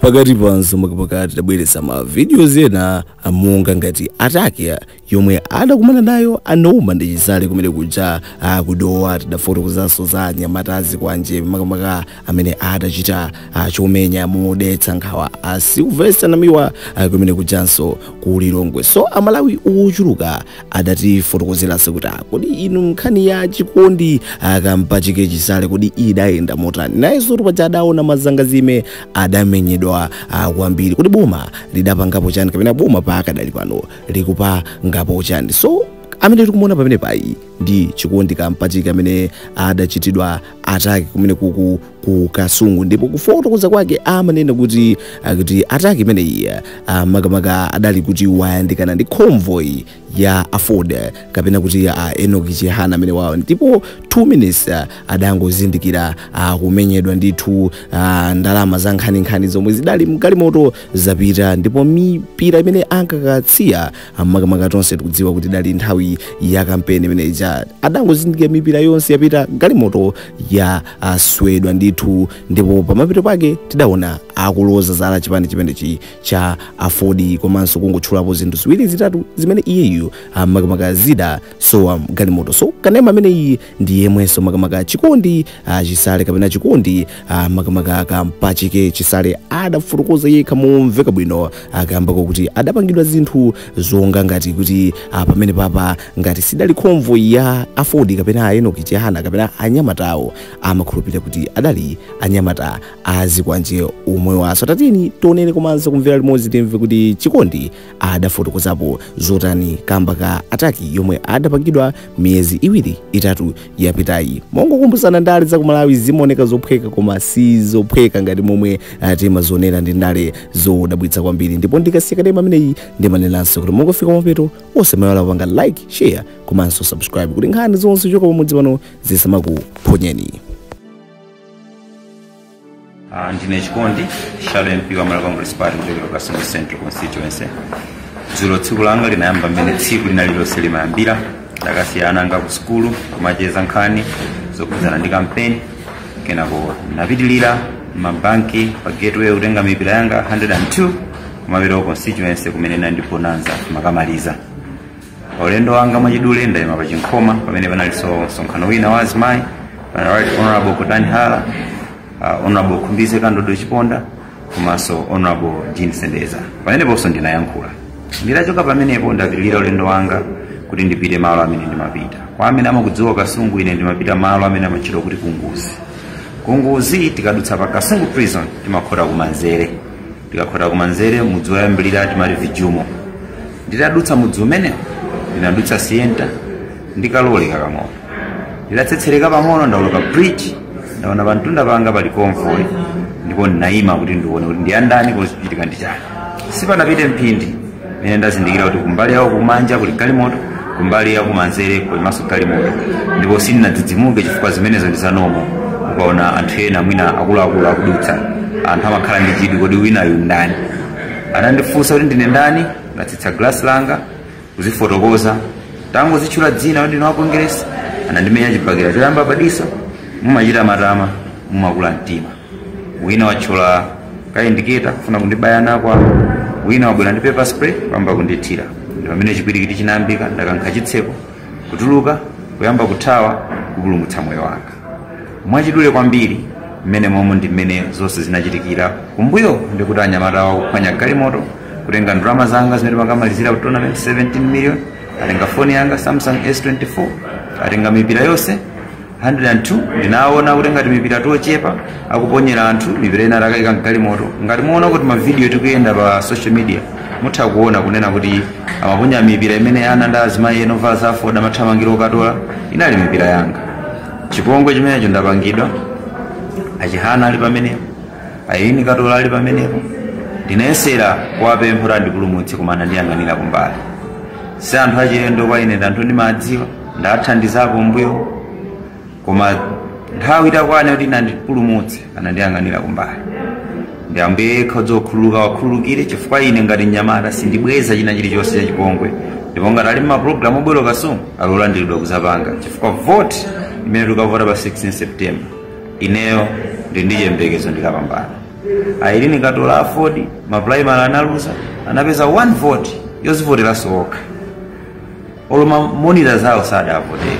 pakati panso mwakapakati tabweretsa ma videos ena monga ngati ataki yomwe adakumana nayo a norman chisale kumene kuja ku dowa tidafotokozanso za anyamata azikwanje makamaka amene adachita ah, chomenya modetsa nkhawa a silvester namiwa ah, kumene kujanso ku lilongwe so amalawi ochuluka adatifotokozeranso kuti "Ah, kodi inu nkhani ya chikondi kampachike chisale kodi idayenda motani nayenso paja adaona mazangazime adamenyedwa ah, kwambiri kodi boma lidapangapo chani kapena boma pakadali pano likupangapo chani so amene tikumuona pamenepayi ndi chikondi kampachike amene adachitidwa ataki kumene kuku ku kasungu ndipo kufotokoza kwake amanena kuti akuti ataki imeneyi ah, makamaka adali kuti wayandikana ndi convoy ya aford kapena kuti ah, enoch chihana amenewawo ndipo 2 minutes ah, adangozindikira ah, kumenyedwa ndithu ah, ndalama zankhaninkhani zomwe zidali mgalimoto zapita ndipo mipira imene ankakasiya ah, makamaka tonse tikudziwa kuti idali nthawi ya kampeni imene ija adangozindikira mipira yonse yapita galimoto ya swedwa ndithu ndipo pamapeto pake tidaona akuloza zala chipani chimenechi cha aford komanso kungotchulapo zinthu ziwiri zitatu zimene iyeyu ah, makamaka zidasowa mgalimoto so kanema ameneyi ndi yemwenso makamaka chikondi ah, chisale kapena chikondi ah, makamaka kampachike chisale adafotokoza yekha momveka bwino akambako kuti adapangidwa zinthu zonga ngati kuti ah, pamenepapa ngati sidali convoy ya aford kapena a enoch chihana kapena anyamatawo amakhulupirira kuti adali anyamata azikwanje omwewaso tatiyeni tionere komanso kumvera limodzi timve kuti chikondi adafotokozapo zotani kamba ka ataki yomwe adapangidwa miyezi iwiri itatu yapitayi mongokumbutsana ndale za kumalawi zimaoneka zophweka koma si zophweka ngati momwe ah, timazionera ndi ndale zodabwitsa kwambiri ndipo ndikasiya kanema ameneyi ndimanenanso kuti mukafika mapeto osamaiwala kupanga like share komanso subscribe kuti nkhani zonse zochoka pamudzi pano zisamakuphonyeni Ah, ndine chikondi shadow mp wa malawi congress party kuchokera ku kasungu central constituency dzulo tsiku langa linayamba mmene tsiku lina lililonse limayambira ndakasiya ana anga ku sukulu kumacheza nkhani zokhudzana ndi kampeni kenako napitilira mabanki pa gateway kutenga mipira yanga 102 kumapita constituency kumene na ndi bonanza makamaliza pa ulendo wanga mwachidule ndayima pa chinkhoma pamene panalinso msonkhano wina wa azimayi pana right honorable gotani hara uh, honorable khumbize kandodo chiponda komanso honorable jean sendeza pameneponso ndinayankhula ndinachoka pamenepo ndapitirira ulendo wanga kuti ndipite malo amene ndimapita kwa amene amakudziwa kasungu ine ndimapita malo amene amatchedwa kuti kunguzi kunguzi tikadutsa pa kasungu prison timakhota kumanzere tikakhota kumanzere mudzi woyambirira timati vijumo nditadutsa mudzi umenewo ndinadutsa sienta ndi kalole kakamoto nditatsetsereka pang'ono ndawoloka bridge ndaona pamtunda pang'a pali convoy ndipo ndinayima kuti ndione kuti ndiyandani kukuchitika ndi chani sipanapite mphindi mene ndazindikira kuti kumbali yawo kumanja kuli galimoto kumbali yawo kumanzere kulimanso galimoto ndipo sindinadzidzimuke chifukwa zimenezo ndi zanomo ukaona anthu ena mwina akuluakulu akudutsa anthu amakhala ndi chidwi kodi winayu ndani anandifunsa kuti ndine ndani ndatsitsa glass langa kuzifotokoza nditangozitchula dzina kuti ndine wa kongeresi anandimenya chibakera choyamba padiso mumachita matama mumakula mtima wina watchula kaindiketa kufuna kundibaya nakwa wina wabwera ndi pepper spray kuyamba kundithira ndi pamene chipwirikiti chinayambika ndakankha chitseko kutuluka kuyamba kuthawa kupulumutsa moyo wanga mwachidule kwambiri mmene momo ndi mmene zonse zinachitikira kumbuyo ndikuti anyamatawo akuphwanya galimoto kutenga ndalama zanga zimene timakamalizira ku tournament 17 million atenga foni yanga samsung s24 atenga mipira yonse 102 ndinaona kuti ngati mipira tochepa akuponyera anthu mipira ina atakaika mgalimoto ngati muona kuti mavidiyo akuyenda pa social media mutha kuona kunena kuti amaponya mipira imene ana ndi azimayi ena ovala za aford amathamangira okatola inali mipira yanga chipongwe chimenecho ndapangidwa achihana ali pamenepo ailini katola ali pamenepo ndinayesera kuwapempha kuti andipulumutse koma anandiyang'anira kumbali si anthu achilendo kwa ine ndi anthu ndimadziwa ndathandizapo mmbuyo koma nthawi itakwana kuti andipulumutse anandiyang'anira kumbali ndi ambuye yekha odziwa kukhululuka awakhululukire chifukwa ine ngati mnyamata sindibweza china chilichonse chachipongwe ndipo ngati ali mapulogalamu obwera kasungu ali olandiridwa kuzapanga chifukwa voti imene tikavota pa 16 september ineyo ndi ndi chiyembekezo ndikapambana ailini katola aford mapulaimali analuza anapeza 1 voti yozivoteranso okha olo ma monitors awo sadavotere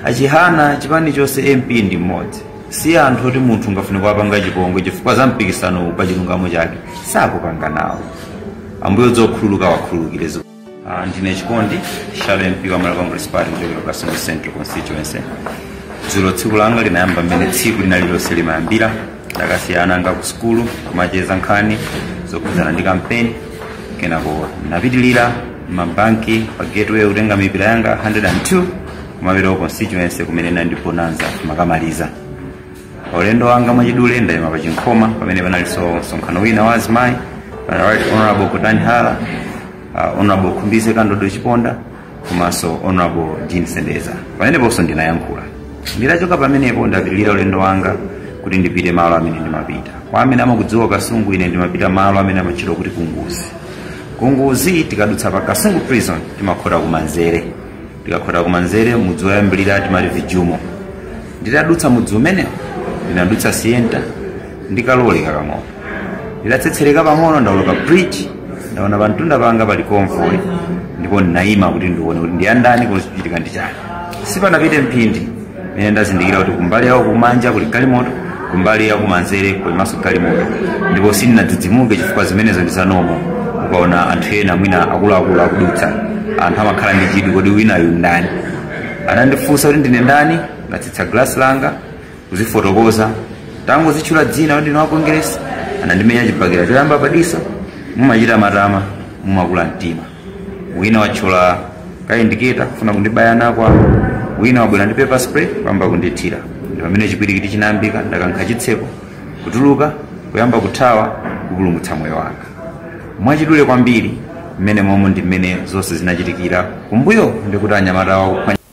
achihana chipani chonse mp ndi mmodzi si anthu oti munthu ungafune kuwapanga chipongwe chifukwa za mpikisano pa chilungamo chake sakupangana nawo ambuye odziwa kukhululuka awakhululukire zi- Ah, ndine chikondi shadow mp wa malawi congress party kuchokera ku kasungu central constituency dzulo tsiku langa linayamba mmene tsiku lina lililonse limayambira ndakasiya anzanga ku sukulu kumacheza nkhani zokhudzana ndi kampeni kenako ndapitilira mabanki pa gateway kutenga mipira yanga 102 kumapita ku constituency kumene ndinali ndi bonanza makamaliza ulendo wanga mwachidule ndayima pa chinkhoma pamene panalinso msonkhano wina wa azimayi pana right honorable Gotani Hara uh, honorable khumbize kandodo chiponda komanso honorable jean sendeza pameneponso ndinayankhula nditachoka pamenepo ndapitirira ulendo wanga kuti ndipite malo amene ndimapita kwa amene amakudziwa kasungu ine ndimapita malo amene amatchedwa kuti kunguzi kunguzi tikadutsa pa kasungu prison timakhota kumanzere tikakhota kumanzere mudzi woyambirira timati vijumo nditadutsa mudzi umenewo ndinadutsa sienta ndi kalole kakang'ono nditatsetsereka pang'ono ndawoloka bridge ndaona pamtunda panga pali convoy ndipo ndinayima kuti ndione kuti ndiyandani kuti chikuchitika ndi chani sipanapite mphindi mene ndazindikira kuti kumbali ya kumanja kuli galimoto kumbali ya kumanzere kulinso galimoto ndipo sindinadzidzimuke chifukwa zimenezo ndi za normal ukaona anthu ena mwina akuluakulu akudutsa anthu amakhala ndi chidwi kodi winayu ndani anandifunsa kuti ndine ndani ndatsitsa glass langa kuzifotokoza nditangozitchula dzina ndine wa kongeresi anandimenya chibakera choyamba padiso mumachita matama mumakula mtima wina wathyola ka indicator kufuna kundibaya nako wina wabwera ndi pepper spray kuyamba kundithira ndi pamene chipwirikiti chinayambika ndakankha chitseko kutuluka kuyamba kuthawa kupulumutsa moyo wanga mwachidule kwambiri mmene momo ndi mmene zonse zinachitikira kumbuyo ndikuti anyamata akuphwanya